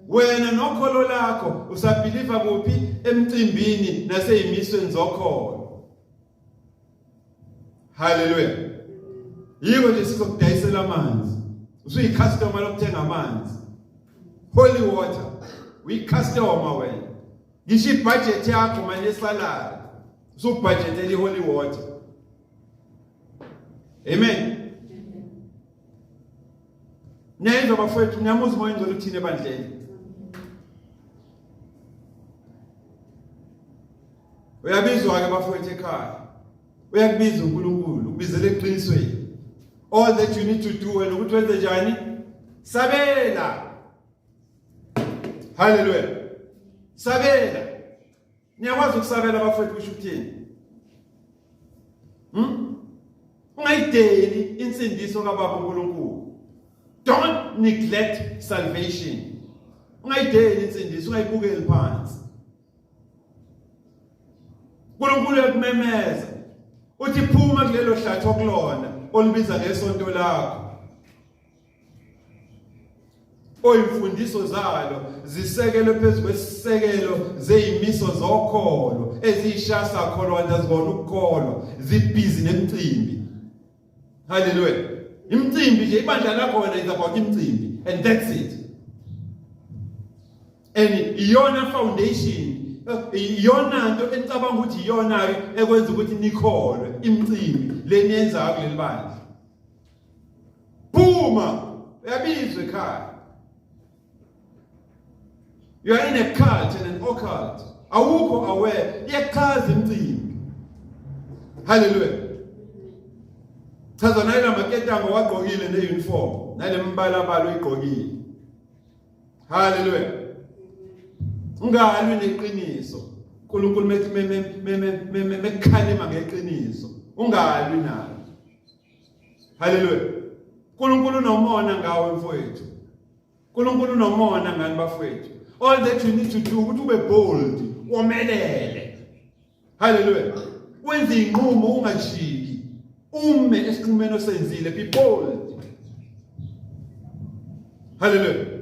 A: wena nokholo lakho usabhiliva kuphi emcimbini naseyimisweni zokholo haleluya yiko nje sizokudayisela amanzi usuyicustomer lokuthenga amanzi holy water uyicustomer wena ngisho ibudget yakho manje esalala usubudgetela iholy water amen Niyayizwa bafowethu, niyamuzi umoya ongcwele uthini ebandleni. Uyabizwa ke bafowethu ekhaya. Uyakubiza uNkulunkulu, ukubizela eqinisweni. All that you need to do wena ukuthi wenze njani? Sabela. Hallelujah. Sabela. niyakwazi ukusabela abafowethu kusho ukuthini hmm? ungayideli insindiso kababa uNkulunkulu don't neglect salvation ungayideli insindiso ungayibukeli phansi uNkulunkulu ekumemeza uthi phuma kulelo hlathi okulona olibiza ngesonto lakho oyimfundiso zalo zisekelwe phezu kwesisekelo zeyimiso zokholo eziyishasa kholo kanti azibona ukukholwa zibhizi nemicimbi haleluya imicimbi nje ibandla lakho wena is about imicimbi and that's it and iyona foundation iyona nto enicabanga ukuthi iyona-ke ekwenza ukuthi nikholwe imicimbi leniyenzayo kuleli bandla phuma uyabizwa ekhaya you are in a cult and an occult awukho aware iyachaza imcimbi haleluya chaza nayila maketango wagqokile ne-uniform nale mbalabala uyigqokile haleluya ungalwi neqiniso unkulunkulu mekhalima ngeqiniso ungalwi nalo Haleluya. Nkulunkulu nomona ngawe mfowethu. Nkulunkulu nomona ngani bafowethu. All that you need to do ukuthi ube bold, womelele. Haleluya. Wenze inqumo ungajiki. Ume esinqumeni osenzile, be bold. Haleluya.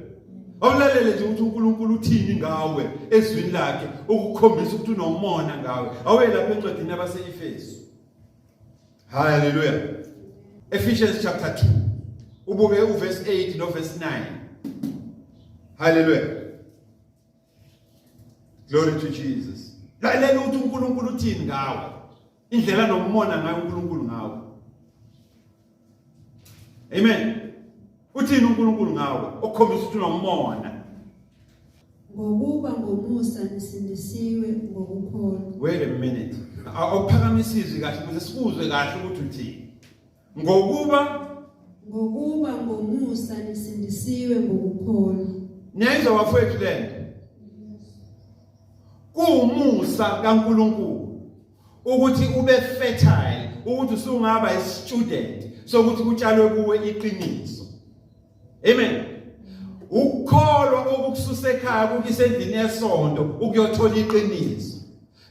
A: awulalele nje ukuthi uNkulunkulu uthini ngawe ezwini lakhe ukukhombisa ukuthi unomona ngawe awuyelapha encwadini yabaseEfesu Hallelujah. Ephesians chapter 2. Ubuke uverse 8 no verse 9. Hallelujah. Glory to Jesus. Lalela ukuthi uNkulunkulu uthini ngawe. Indlela nomona ngayo uNkulunkulu ngawe. Amen. Uthini uNkulunkulu ngawe okhombisa ukuthi unomona?
B: Ngokuba ngomusa nisindisiwe ngokukholwa. Wait a minute.
A: Awuphakamisa izwi kahle ukuze sikuzwe kahle ukuthi uthini. Ngokuba ngokuba ngomusa
B: nisindisiwe ngokukholwa. Niyayizwa
A: wafowethu lento? Kuwumusa kaNkulunkulu. ukuthi ube fertile ukuthi usungaba istudent sokuthi kutshalwe kuwe iqiniso amen ukukholwa okukususa ekhaya kukise endlini yesonto ukuyothola iqiniso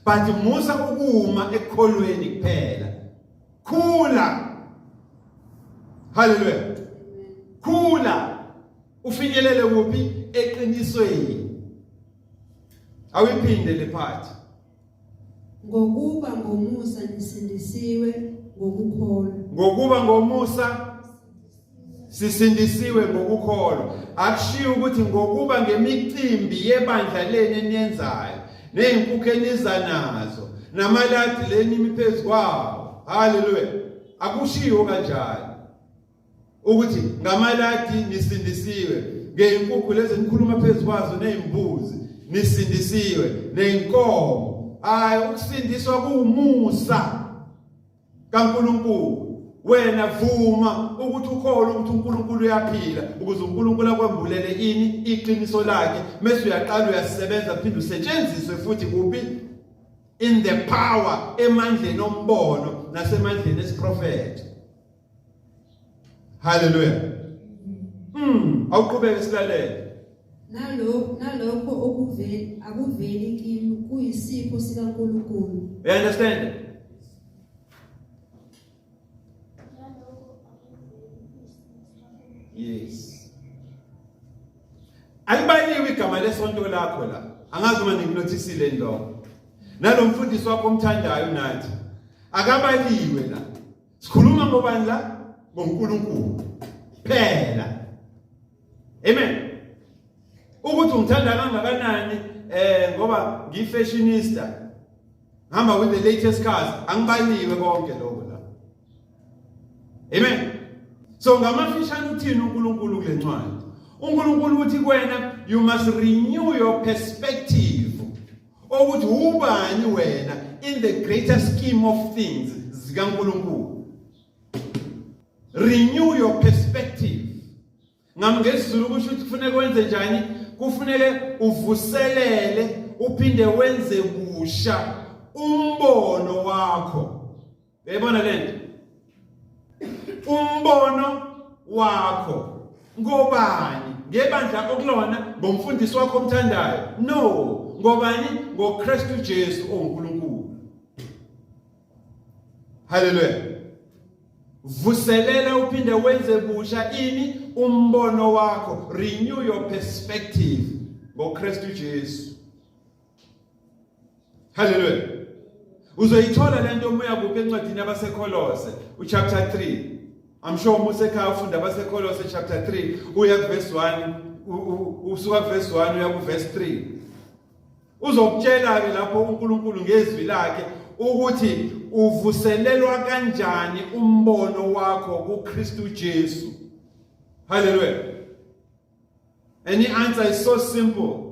A: but musa ukuma ekukholweni kuphela khula haleluya khula ufinyelele kuphi eqinisweni awiphinde le phathi
B: Ngokuba ngomusa nisindisiwe ngokukholwa. Ngokuba
A: ngomusa sisindisiwe ngokukholwa. Akushiyo ukuthi ngokuba ngemicimbi yebandla leni eniyenzayo nezinkukhu eniza nazo namaladi leni imiphezukwawo. Hallelujah. Akushiyo kanjalo. ukuthi ngamaladi nisindisiwe ngey'nkukhu lezi nikhuluma phezu kwazo ney'mbuzi nisindisiwe ney'nkomo hhayi ukusindiswa kuwumusa kaNkulunkulu wena vuma ukuthi ukholwe ukuthi uNkulunkulu uyaphila ukuze uNkulunkulu akwambulele ini iqiniso lakhe mase uyaqala uyasebenza phinde usetshenziswe futhi kuphi in the power emandleni ombono nasemandleni esiprofetho haleluya mm awuqhubeke silalele
B: nalokho nalokho okuveli akuveli kimi kuyisipho sikaNkulunkulu you understand
A: yes alibaliwe igama lesonto lakho la angazi uma nginothisile ndo nalomfundisi wakho omthandayo nathi akabaliwe la sikhuluma ngobani la ngoNkulunkulu phela amen ukuthi ungithanda kangakanani eh ngoba ngifashionista ngihamba with the latest cars angibaliwe konke lokho la amen so ngamafishane uthini uNkulunkulu kule ncwadi uNkulunkulu uthi kwena you must renew your perspective ukuthi ubani wena in the greater scheme of things zikaNkulunkulu renew your perspective ngamngezulu kusho ukuthi kufanele wenze njani kufanele uvuselele uphinde wenze kusha umbono wakho Uyayibona le nto? Umbono wakho ngobani? Ngebandla okulona, ngomfundisi wakho omthandayo? No, ngobani? NgoKristu Jesu onguNkulunkulu. Hallelujah. Vuselela uphinde wenze busha ini umbono wakho, renew your perspective ngoKristu Jesu. Hallelujah. Uzoyithola lento uma uyakuba encwadini yabaseKholose uchapter 3. I'm sure uma usekhaya ufunda abaseKholose chapter 3 uya kuverse 1 usuka verse 1 uya kuverse 3. Uzokutshela ke lapho uNkulunkulu ngezwi lakhe ukuthi uvuselelwa kanjani umbono wakho kuKristu Jesu. Hallelujah. And the answer is so simple.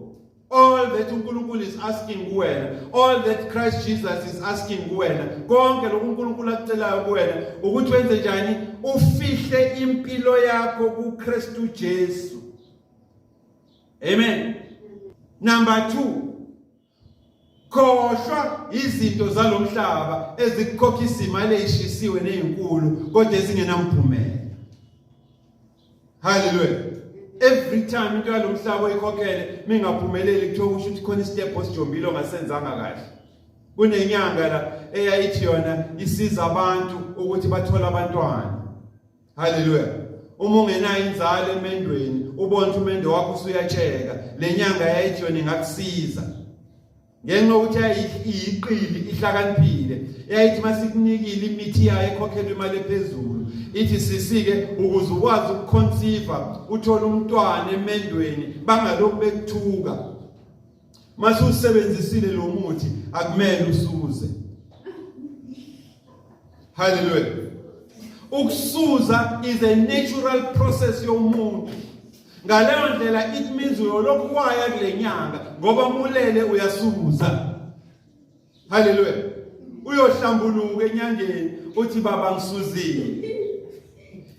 A: All that uNkulunkulu is asking kuwena, all that Christ Jesus is asking kuwena, konke lokhu uNkulunkulu akucelayo kuwena ukuthi wenze njani? Ufihle impilo yakho kuKristu Jesu. Amen. Number 2 khohlwa izinto zalomhlaba ezikukhokha isimali eyishisiwe nezinkulu kodwa ezingenamphumela haleluya every time into yalomhlaba oyikhokhele mingaphumeleli kuthiwa kusho ukuthi khona istep osijombile ongasenzanga kahle kunenyanga la eyayithi yona isiza abantu ukuthi bathole abantwana Haleluya. Uma ungenayo inzalo emendweni, ubona ukuthi umendo wakho usuyatsheka. Le nyanga yayijoni ngakusiza. Ngenxa ukuthi ayiqili ihlakaniphile. Yayithi masikunikile imithi yayo ekhokhelwe imali ephezulu. Ithi sisike ukuze ukwazi ukuconceive, uthole umntwana emendweni bangalokhu bekuthuka. Mase usebenzisile lo muthi akumele usuze. Hallelujah. Ukusuza is a natural process yomuntu. Ngaleyo ndlela it means uyolokhu waya kulenyanga ngoba mulele uyasuza. haleluya uyohlambuluka enyangeni uthi baba ngisuzile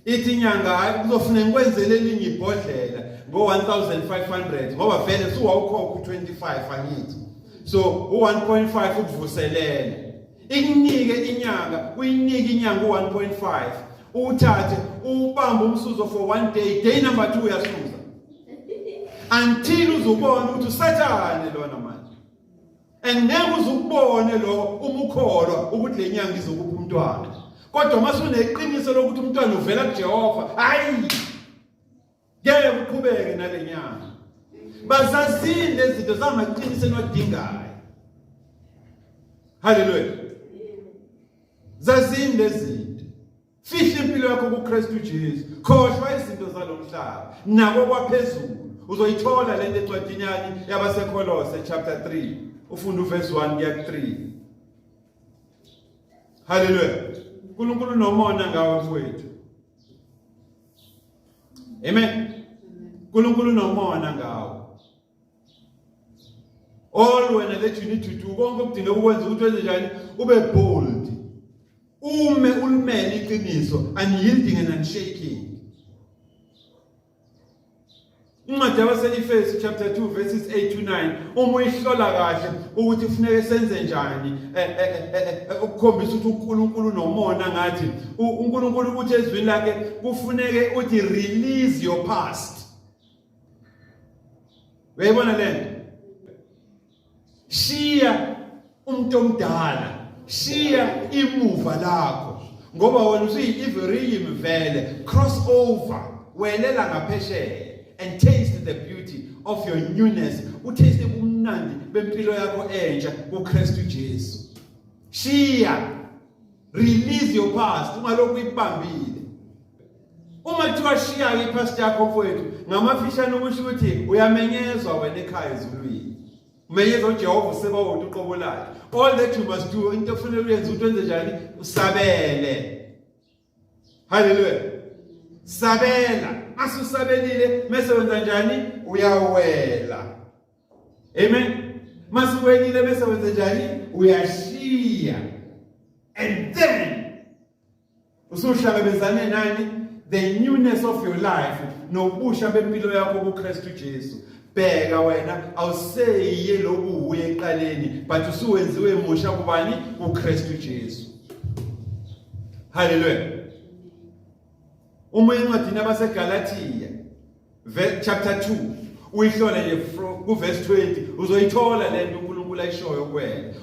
A: ithi inyanga hayi kuzofuna ngikwenzele elinye ibhodlela ngo-1500 ngoba vele suwawukhokha u-25 angithi so u-1.5 ukuvuselela ikunike inyanga uyinike inyanga u-1.5 uwuthathe uwubambe umsuzo for one day day number two uyasuza until uzubona ukuthi usathane lona manje and ngeke uze ukubone lokho uma ukholwa ukuthi le nyanga izokupha umntwana kodwa uma suneqiniso lokuthi umntwana uvela kuJehova hayi ngeke uqhubeke nale nyanga bazazini lezinto zamaqiniso enwadingayo haleluya zazini lezinto Fihla impilo yakho kuKristu Jesu. Khohlwa izinto zalomhlaba nako kwaphezulu. Uzoyithola lento encwadini yakhe yabaseKolose chapter 3. Ufunda uverse 1 kuya 3. Hallelujah. uNkulunkulu nomona ngawe mfowethu. Amen. uNkulunkulu nomona ngawe. all wena that you need to do konke okudinga ukwenza ukuthi wenze njani ube bold ume ulimele iqiniso unyielding and unshaking incwadi yabaselifesi chapter 2 verses 8 to 9 uma uyihlola kahle ukuthi kufuneke senze njani eh, eh, eh, ukukhombisa ukuthi uNkulunkulu nomona ngathi uNkulunkulu ukuthi ezwini lakhe kufuneke uthi release your past uyayibona le nto shiya umuntu omdala shiya imuva lakho ngoba wena usuyi-iveriyim vele cross over welela ngaphesheya and taste the beauty of your newness utaste ubumnandi bempilo yakho entsha kukristu jesu shiya release your past ungalokhu uyibambile uma kuthiwa shiya-ke iphasiti yakho mfowethu ngamafishane ukusho ukuthi uyamenyezwa wena ekhaya ezulwini umenyeza ujehova useba wona uqobo lakhe all that you must do into okufanele uyenze ukuthi wenze njani usabele halleluya sabela mase usabelile mese wenza njani uyawela amen mase uwelile mese wenza njani uyashiya and then usuhlangabezane nani the newness of your life nobusha bempilo yakho kuKristu Jesu bheka wena awuseyiye lokhu uye eqaleni but usuwenziwe musha kubani kuKristu Jesu haleluya uma incwadi nabaseGalatia chapter 2 uyihlole nje kuverse 20 uzoyithola le nto uNkulunkulu ayishoyo kuwena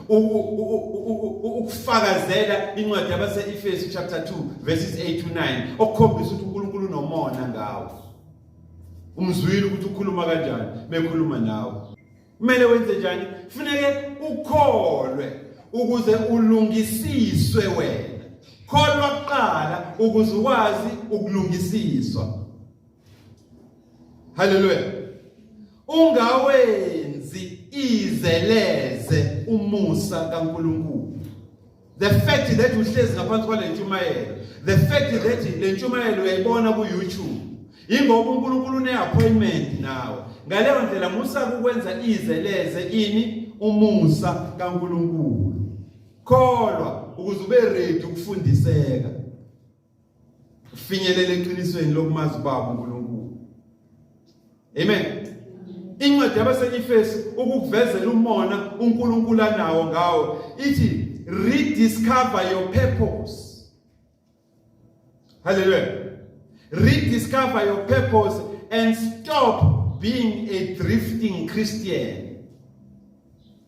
A: ukufakazela incwadi yabase-Efesu chapter 2 verses 8 to 9 okukhombisa ukuthi uNkulunkulu unomona ngawo umzwile ukuthi ukhuluma kanjani mekhuluma nawe kumele wenze njani kufuneke ukholwe ukuze ulungisiswe wena kholwa kuqala ukuze ukwazi ukulungisiswa Haleluya. Ungawenzi izeleze umusa kaNkuluNkulu. The fact that uhlezi ngaphansi kwale ntshumayelo, the fact that le ntshumayelo uyayibona ku YouTube. Ingoba uNkulunkulu une appointment nawe. Ngaleyo ndlela musa ukwenza izeleze ini umusa kaNkuluNkulu. Kholwa ukuze ube ready ukufundiseka. Finyelela eqinisweni lokumazi ubaba uNkulunkulu. Amen. Incwadi yabaseNyifesi ukukuvezela umona uNkulunkulu anawo ngawo ithi rediscover your purpose. Hallelujah. Rediscover your purpose and stop being a drifting Christian.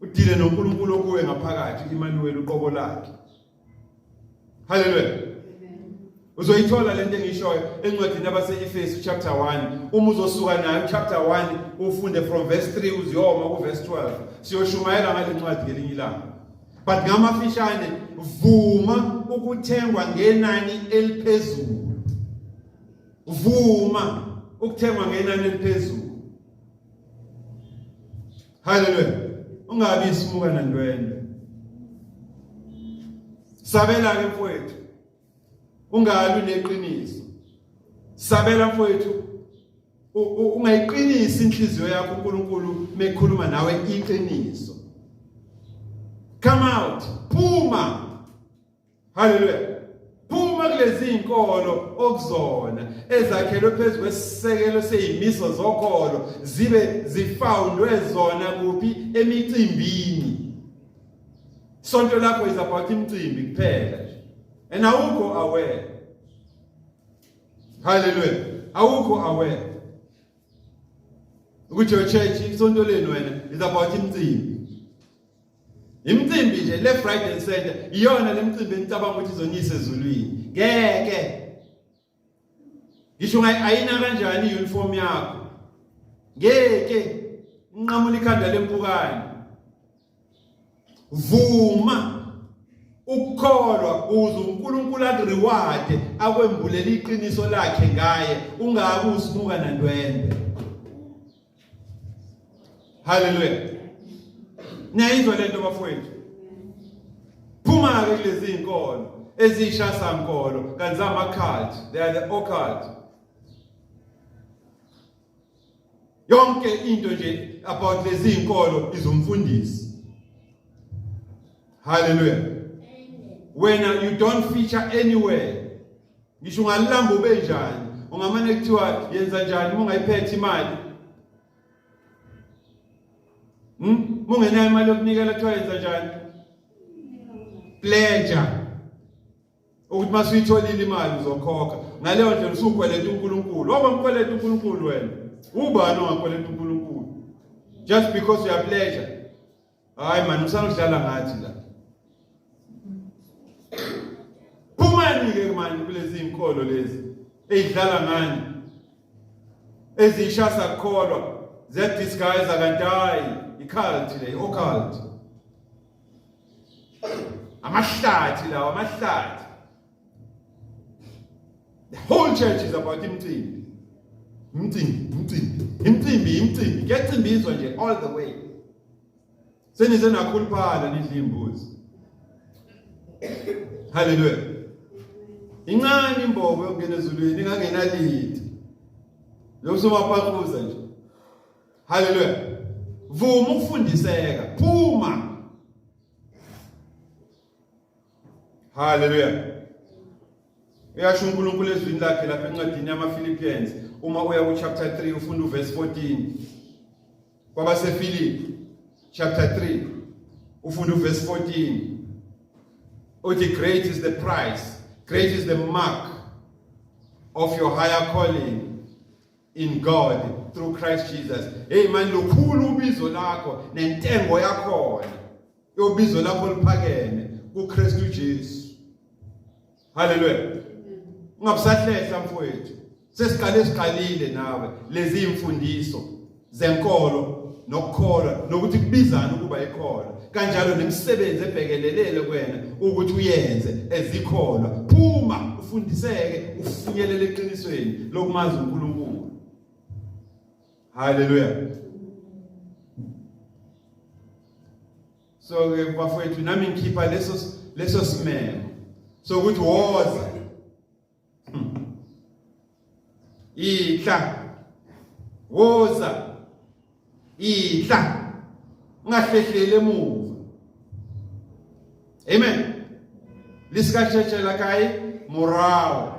A: udile noNkulunkulu okuwe ngaphakathi Emmanuel uqobo lakhe haleluya uzoyithola lento engishoyo encwadini abase-efesu chapter 1 uma uzosuka nayo chapter 1 ufunde from verse 3 uziyoma kuverse 12 siyoshumayela ngale ncwadi ngelinye ilanga but ngamafishane vuma ukuthengwa ngenani eliphezulu vuma ukuthengwa ngenani eliphezulu haleluya ungabi isimuka nandwendwe sabela ke mfowethu ungalwi neqiniso sabela mfowethu ungayiqinisi inhliziyo yakho uNkulunkulu mekhuluma nawe iqiniso come out phuma Haleluya. Phuma kulezi inkolo okuzona ezakhelwe phezu kwesisekelo seyimiso zokholo zibe zifoundwe zona kuphi emicimbini. Sonto lakho is about imicimbi kuphela nje. And awukho aware. Haleluya. Awukho aware. Ukuthi your church isonto lenu wena is about imicimbi. Imicimbi nje le Friday and Saturday iyona lemicimbi enicabanga ukuthi izonyisa ezulwini. Ngeke. Ngisho ngayi ayina kanjani uniform yakho. Ngeke inqamula ikhanda lempukane. Vuma ukukholwa uze uNkulunkulu akureward akwembulele iqiniso lakhe ngaye ungabe usibuka nandwembe. Haleluya. Niyayizwa le nto bafowethu? Phuma-ke kulezi zinkolo eziyishasa nkolo kanti zamakhadi they are the occult yonke into nje about lezi zinkolo izomfundisi haleluya wena you don't feature anywhere ngisho ungalilamba ube njani ungamane kuthiwa yenza njani uma ungayiphethe imali hmm? uma ungenayo imali yokunikela kuthiwa yenza njani pleasure ukuthi uma suyitholile imali uzokhokha ngaleyo ndlela usukweleta uNkulunkulu waba mkweleta uNkulunkulu wena ubani ongakweleta uNkulunkulu just because you are pleasure Hayi man usangihlala ngathi la. Phumani ke manje kulezi inkolo lezi ezidlala ngani. Ezishasa kukholwa ziyadisguise kanti hayi i-cult le i-occult. Amahlathi lawa amahlathi The whole church is about imcimbi. Imcimbi, imcimbi, imcimbi, imcimbi. Kuyacimbizwa nje all the way. Senize nakhuluphala nidla imbuzi. Hallelujah. Incane imbobo yokungena ezulwini ingangenalithi. Lo somaphaquza nje. Hallelujah. Vuma ukufundiseka, phuma Haleluya. Uyasho uNkulunkulu ezwini lakhe lapha encwadini yamaPhilippians uma uya ku chapter 3 ufunda uverse 14 kwabaseFilipi chapter 3 ufunda uverse 14 uthi great is the price great is the mark of your higher calling in God through Christ Jesus hey man lukhulu ubizo lakho nentengo yakhona yobizo lakho liphakeme kuKristu Jesu haleluya ungabusahlehla mfowethu sesiqale siqalile nawe lezi imfundiso zenkolo nokukholwa nokuthi kubizana ukuba ikhona kanjalo nemisebenzi ebhekelelele kwena ukuthi uyenze ezikholwa phuma ufundiseke ufinyelele eqinisweni lokumazi uNkulunkulu haleluya so ke bafowethu nami ngikhipha leso leso simemo sokuthi woza idla woza idla ungahlehleli emuva amen lisikasheshela kai morawo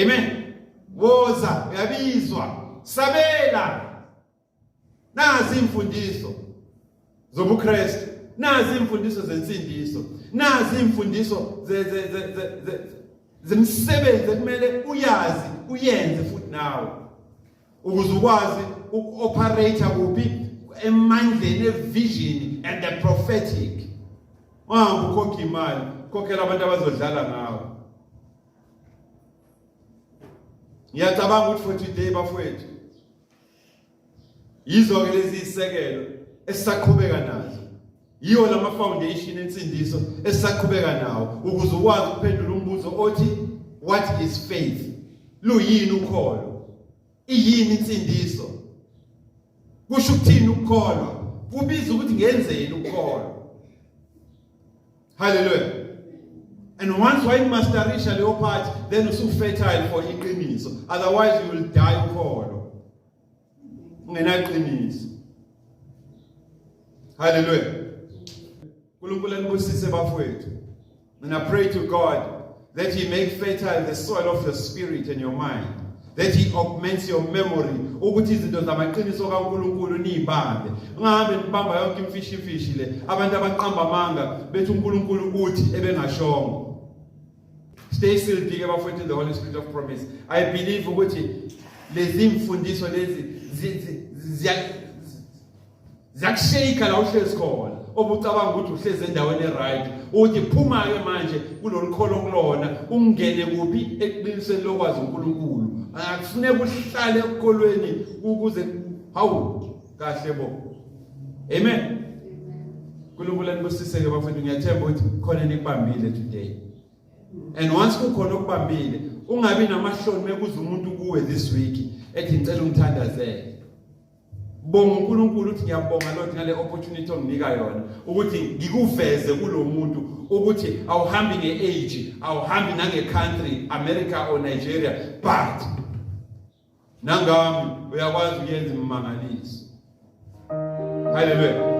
A: amen woza uyabizwa sabela Nazi imfundiso zobuKristu, nazi imfundiso zensindiso, nazi imfundiso ze ze ze ze zemisebenzi ekumele uyazi uyenze futhi nawe ukuze ukwazi uku-operate kuphi emandleni evision and the prophetic ungahambi ukhokhe imali khokhela abantu abazodlala ngawo ngiyacabanga ukuthi for today bafowethu yizo ke lezi isekelo esisaqhubeka nazo yiwo lama foundation ensindiso esisaqhubeka nawo ukuze ukwazi ukuphendula umbuzo othi what is faith luyini ukholo iyini insindiso kusho ukuthini ukukholwa kubiza ukuthi ngenzeni ukukholwa Hallelujah. And once why masterisha leyo part then usu fertile for iqiniso. Otherwise you will die ukholo. Ungenaqiniso. Hallelujah. uNkulunkulu anibusise bafowethu. And I pray to God That he make fertile the soil of your spirit and your mind. That he augments your memory. Ukuthi izinto zamaqiniso kaNkuluNkulu niyibambe. Ungahambe nibamba yonke imfishi imfishi le. Abantu abaqamba amanga bethi uNkuluNkulu uthi ebengashongo. Stay still big abafowethu the Holy Spirit of promise. I believe ukuthi lezi mfundiso lezi ziyakushayika la uhlezi khona obucabanga ukuthi uhlezi endaweni eright uthi phuma ke manje kulolukholo kulona ungene kuphi eqinisweni lokwazi uNkulunkulu akufuneka uhlale ekholweni ukuze hawu kahle bo amen uNkulunkulu anibusise ke bafethu ngiyathemba ukuthi khona nikubambile today and once kukhona okubambile ungabi namahloni mekuza umuntu kuwe this week ethi ngicela ungithandazele Bonga uNkulunkulu uthi ngiyabonga Lord ngale opportunity onginika yona ukuthi ngikuveze kulomuntu ukuthi awuhambi ngeage awuhambi nange country America or Nigeria but nangami uyakwazi ukuyenza imangaliso Hallelujah